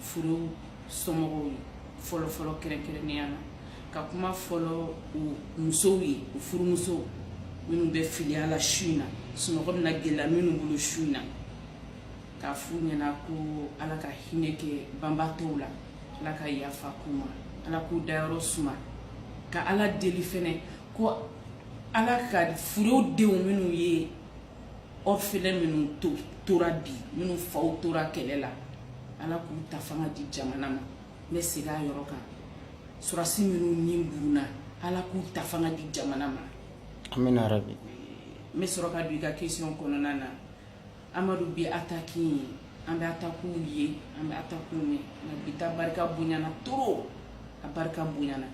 fure somɔgɔw ye fɔlɔfɔlɔ kɛrɛnkɛrɛnnenya na ka kuma fɔlɔ u musow ye u furumusow minnu bɛ filiya la su in na sunɔgɔ bɛna gɛlɛya minnu bolo su in na k'a f'u ɲɛna ko ala ka hinɛ kɛ banbaatɔw la ala ka yafa k'u ma ala k'u dayɔrɔ suma ka ala deli fɛnɛ ko ala ka fure denw minnu ye orphelin minnu to tora bi minnu faw tora kɛlɛ la ala k'u ta fanga di jamana ma n bɛ segin a yɔrɔ kan sɔrɔsi minnu ni burunna ala k'u ta fanga di jamana ma amina rabi n bɛ sɔrɔ ka don i ka question kɔnɔna na amadu bi ataki in an bɛ atakiw ye an bɛ atakiw mɛn nka bi ta barika bonyana trop a barika bonyana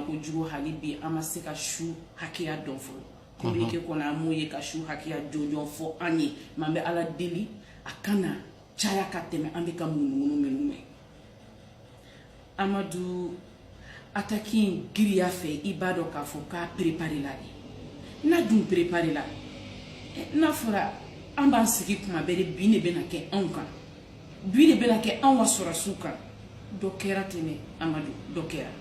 kojugu hali bi an ma se ka su hakɛya dɔn fɔlɔ kominike kɔnɔ an m'o ye ka su hakɛya jɔnjɔn fɔ an ye mais an bɛ ala deli a kana caya ka tɛmɛ an bɛ ka ŋunuŋunu minnu mɛn amadu ataki in giriya fɛ i b'a dɔn k'a fɔ k'a perepare la de n'a dun perepare la n'a fɔra an b'an sigi kuma bɛɛ de bin de bɛna kɛ anw kan bin de bɛna kɛ anw ka sɔrɔsiw kan dɔ kɛra tɛnɛ amadu dɔ kɛra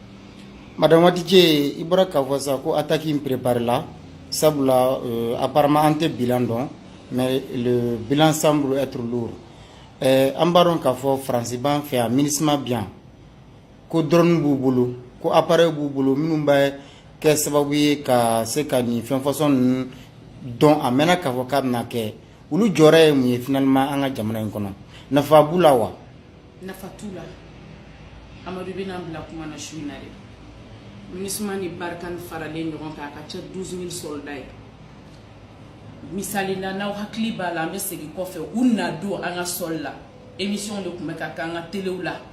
madame watije i b'a dɔn k'a fɔ sa ko ataki in prépare la sabula euh, apparemment an tɛ bilan dɔn mais le bilan semble être lourd euh, an b'a dɔn k'a fɔ faransi b'an fɛ yan minisma bi yan ko doroni b'u bolo ko aparɛyi b'u bolo minnu bɛ kɛ sababu ye ka se ka nin fɛn fasɔn ninnu dɔn a mɛnna k'a fɔ k'a bɛna kɛ olu jɔyɔrɔ ye mun ye finalement an ka jamana in kɔnɔ nafa b'u la wa nafa t'u la amadu bɛna bila kuma na su in na dɛ minisuma ni barikani faralen ɲɔgɔn kan a ka ca douze mille sɔrɔda ye misali na n'aw hakili b'a la an bɛ segin kɔfɛ u na don an ka sɔli la émission de tun bɛ ka kɛ an ka telew la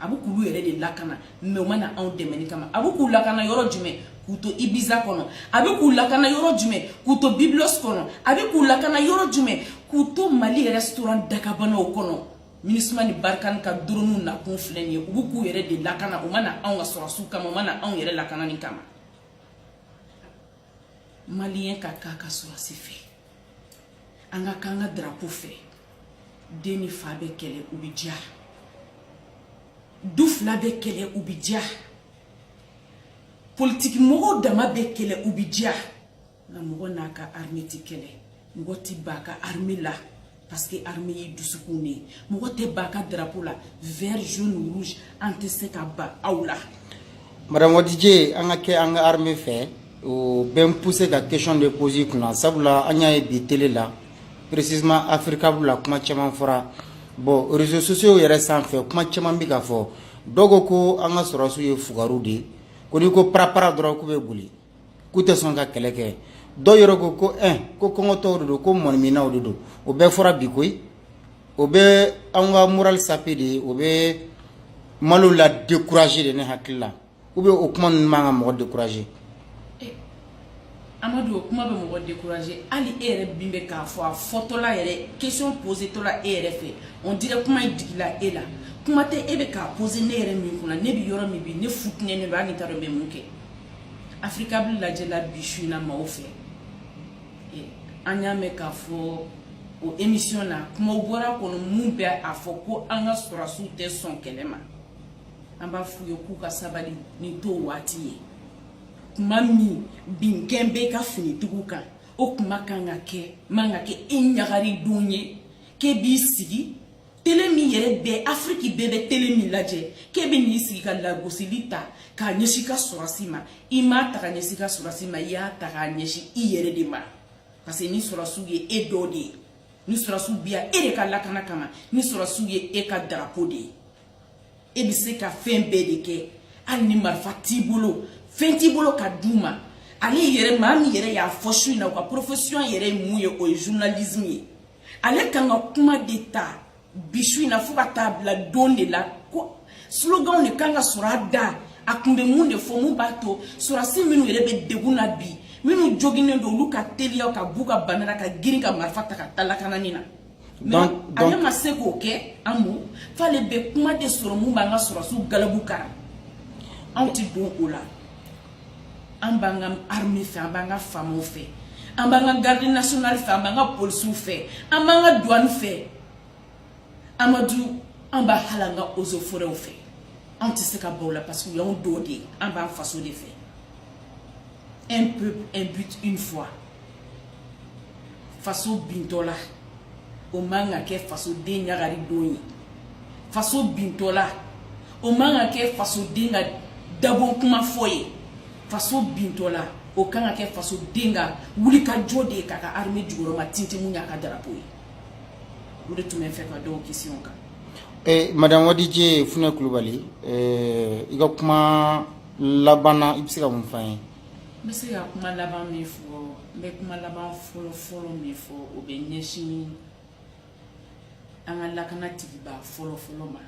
a bɛ k'olu yɛrɛ de lakana mais u ma na anw dɛmɛnni kama a bɛ k'u lakana yɔrɔ jumɛn k'u to ibiza kɔnɔ a bɛ k'u lakana yɔrɔ jumɛn k'u to biblos kɔnɔ a bɛ k'u lakana yɔrɔ jumɛn k'u to mali rɛsitoran dakabanaw kɔnɔ minisuma ni barikani ka doroniw nakun filɛ nin ye u bɛ k'u yɛrɛ de lakana u ma na anw ka sɔrɔsiw kama u ma na anw yɛrɛ lakanani kama maliyɛn ka k'a ka sɔrɔsi fɛ an ka k'an ka darapo fɛ den ni fa bɛ kɛlɛ u bɛ diya du fila bɛ kɛlɛ u bɛ diya politiki mɔgɔw dama bɛ kɛlɛ u bɛ diya nka mɔgɔ n'a ka arme ti kɛlɛ mɔgɔ ti b'a ka arme la parce que armée ye dusukun de ye mɔgɔ tɛ ban ka drapeau la vert jaune rouge an tɛ se ka ban aw la madame wadije an ka kɛ an ka armée fɛ o bɛ n pousser ka question de poser i kunna sabula an y'a ye bi tele la précisément africable la kuma caman fɔra bon réseaux sociaux yɛrɛ sanfɛ kuma caman bɛ ka fɔ dɔw ko ko an ka sɔrɔsiw ye fugaru de ye ko n'i ko parapara dɔrɔn k'u bɛ boli k'u tɛ sɔn ka kɛlɛ kɛ dɔw yɛrɛ ko ko ɛ ko kɔngɔtɔw de don ko mɔniminaw de don o bɛɛ fɔra bi koyi o bɛ an ka moral saper de ye o bɛ malo la décourager de ne hakili la ou bien o kuma ninnu man ka mɔgɔ décourager amadu o kuma bɛ mɔgɔ décourager hali e yɛrɛ min bɛ k'a fɔ a fɔtɔla yɛrɛ question posetɔla e yɛrɛ fɛ on dirait kuma in digila e la kuma tɛ e bɛ k'a poser ne yɛrɛ min kunna ne bɛ yɔrɔ min bi ne futinɛnen don hali n t'a dɔn n bɛ mun kɛ africable lajɛla bi su in na maaw fɛ an y'a mɛn k'a fɔ o émission na kumaw bɔra kɔnɔ min bɛ a fɔ ko an ka sɔrɔsiw tɛ sɔn kɛlɛ ma an b'a f'u ye k'u ka sabali nin t'o waati ye kuma min binkan b'i ka finitigiw kan o kuma kan ka kɛ man ka kɛ i ɲagari don ye k'e b'i sigi tele min yɛrɛ bɛɛ afiriki bɛɛ bɛ tele min lajɛ k'e bɛ n'i sigi ka lagosili ta k'a ɲɛsin i ka sɔrɔsi ma i m'a ta k'a ɲɛsin i ka sɔrɔsi ma i y'a ta k'a ɲɛsin i yɛrɛ de ma parce que nin sɔrɔsiw ye e dɔ de ye nin sɔrɔsiw bɛ yan e de ka lakana kama nin sɔrɔsiw ye e ka drapeau de ye e bɛ se ka fɛn bɛɛ de kɛ hali ni marifa t'i bolo fɛn t'i bolo ka d'u ma ale yɛrɛ maa min yɛrɛ y'a fɔ su in na a ka profession yɛrɛ ye mun ye o ye journalisme ye ale kan ka kuma de ta bi su in na fo ka taa bila don de la ko sloganw de kan ka sɔrɔ a da a kun bɛ mun de fɔ min b'a to sɔrɔsi minnu yɛrɛ bɛ degun na bi minnu joginnen don olu ka teliya ka b'u ka bana na ka girin ka marifa ta ka taa lakanani na donc ale ma se k'o kɛ an mo f'ale bɛ kuma de sɔrɔ min b'an ka sɔrɔsiw galabu kari anw ti don o la an b'an ka armée fɛ an b'an ka famaw fɛ an b'an ka garde nationale fɛ an b'an ka polisiw fɛ an b'an ka douane fɛ amadu an b'a hali an ka eaux et forêts fɛ an tɛ se ka ban u la parce que u y'anw dɔw de ye an b'an faso de fɛ un peuple un but une foi faso bintɔla o man ka kɛ fasoden ɲagari don ye faso bintɔla o man ka kɛ fasoden ka dabɔ kuma fɔ ye faso bintɔla o kan ka kɛ fasoden ka wulikajɔ de ye k'a ka armée jukɔrɔmatintin min y'a ka drapeau ye o de tun bɛ n fɛ ka d'o question kan eh, madame wadije funɛ kulubali eh, i ka kuma laban na i bɛ se ka mun fɔ an ye n bɛ se ka kuma laban min fɔ n bɛ kuma laban fɔlɔ fɔlɔ min fɔ o bɛ ɲɛsin an ka lakanatigiba fɔlɔ fɔlɔ ma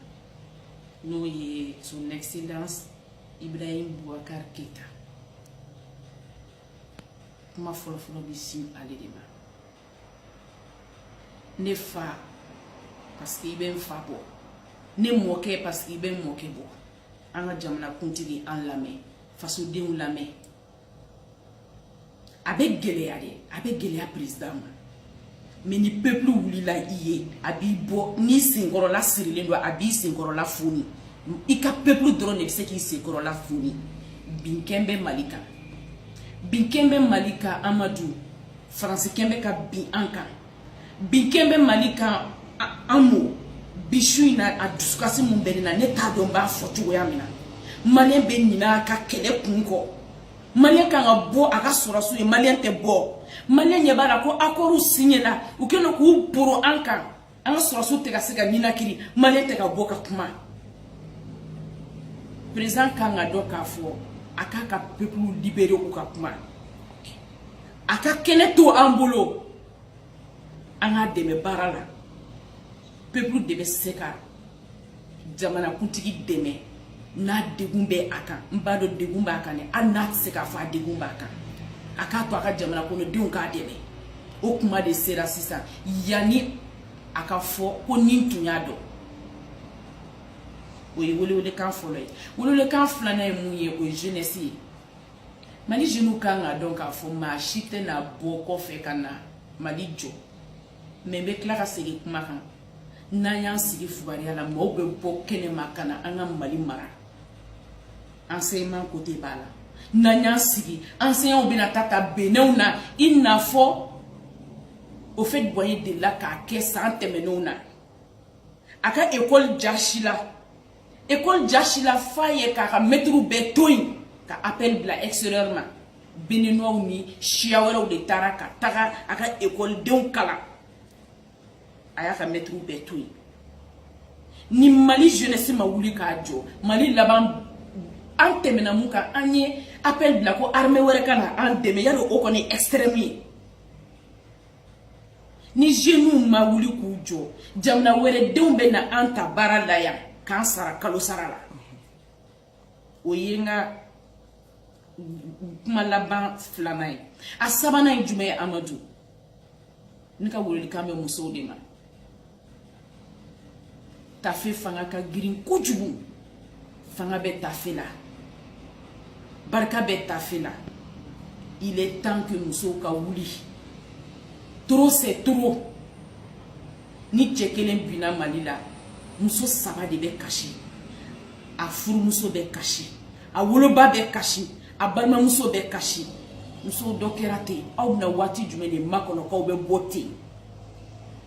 n'o ye son excellence ibrahim boubacar keyita kuma fɔlɔ fɔlɔ bɛ sin ale de ma ne fa parce que i bɛ n fa bɔ ne mɔkɛ parce que i bɛ n mɔkɛ bɔ an ka jamanakuntigi an lamɛn fasodenw lamɛn a bɛ gɛlɛya dɛ a bɛ gɛlɛya perezidan ma mɛ ni pepulu wulila i ye a b'i bɔ n'i senkɔrɔla sirilen don a b'i senkɔrɔla foni i ka pepulu dɔrɔn de bɛ se k'i senkɔrɔla foni binkɛn bɛ mali kan binkɛn bɛ mali kan amadu faransikɛ bɛ ka bin an kan binkɛn bɛ mali kan an mo bi su in na a dusukasi min bɛ ne na ne t'a dɔn n b'a fɔ cogoya min na maliyɛn bɛ ɲinɛ a ka kɛlɛ kun kɔ maliyɛn kan ka bɔ a ka sɔrɔsiw ye maliyɛn tɛ bɔ maliyɛn ɲɛ b'a la ko akɔriw siɲɛna u kɛlen don k'u boro an kan an ka sɔrɔsiw tɛ ka se ka ninakiri maliyɛn tɛ ka bɔ ka kuma perezidan kan k'a dɔn k'a fɔ a k'a ka pepulu libere u ka kuma a ka kɛnɛ to an bolo an k'a dɛmɛ baara la pepulu de bɛ se ka jamanakuntigi dɛmɛ n'a degun bɛ a kan n b'a dɔn degun b'a kan dɛ hali n'a tɛ se k'a fɔ a degun b'a kan a k'a to a ka jamana kɔnɔdenw k'a dɛmɛ o kuma de sera sisan yanni a k'a fɔ ko ni n tun y'a dɔn o ye welewelekan fɔlɔ ye welewelekan filanan ye mun ye o ye jeunesse ye mali jeunes kan k'a dɔn k'a fɔ maa si tɛna bɔ kɔfɛ ka na mali jɔ mɛ n bɛ tila ka segin kuma kan n'an y'an sigi fugariya la maaw bɛ bɔ kɛnɛma ka na an ka mali mara enseignement kote b'a la n'an y'an sigi enseignants bɛna taa ta benɛnw na i n'a fɔ houphouët boigny delila k'a kɛ san tɛmɛnenw na a ka ekɔli jasila école jasila f'a yɛrɛ k'a ka mɛtiriw bɛɛ to yen ka appel bila extérieur ma béninois ni siya wɛrɛw de taara ka taga a ka ekɔlidenw kalan a y'a ka mɛtiriw bɛɛ to yen ni mali jeunesse ma wuli k'a jɔ mali laban an tɛmɛna mun kan an ye appel bila ko armée wɛrɛ ka na an dɛmɛ yala o kɔni extrême ye ni jeunes ma wuli k'u jɔ jamana wɛrɛ denw bɛ na an ta baara la yan k'an sara kalosara la o ye n ka kuma laban filanan ye a sabanan ye jumɛn ye amadu ne ka welelikan bɛ musow de ma tafe fanga ka girin kojugu fanga bɛ tafe la barika bɛ tafe la il est temps que musow ka wuli trop c'est trop ni cɛ kelen binna mali la muso saba de bɛ kasi a furumuso bɛ kasi a woloba bɛ kasi a balimamuso bɛ kasi musow dɔ kɛra ten aw bɛna waati jumɛn de makɔnɔ k'aw bɛ bɔ ten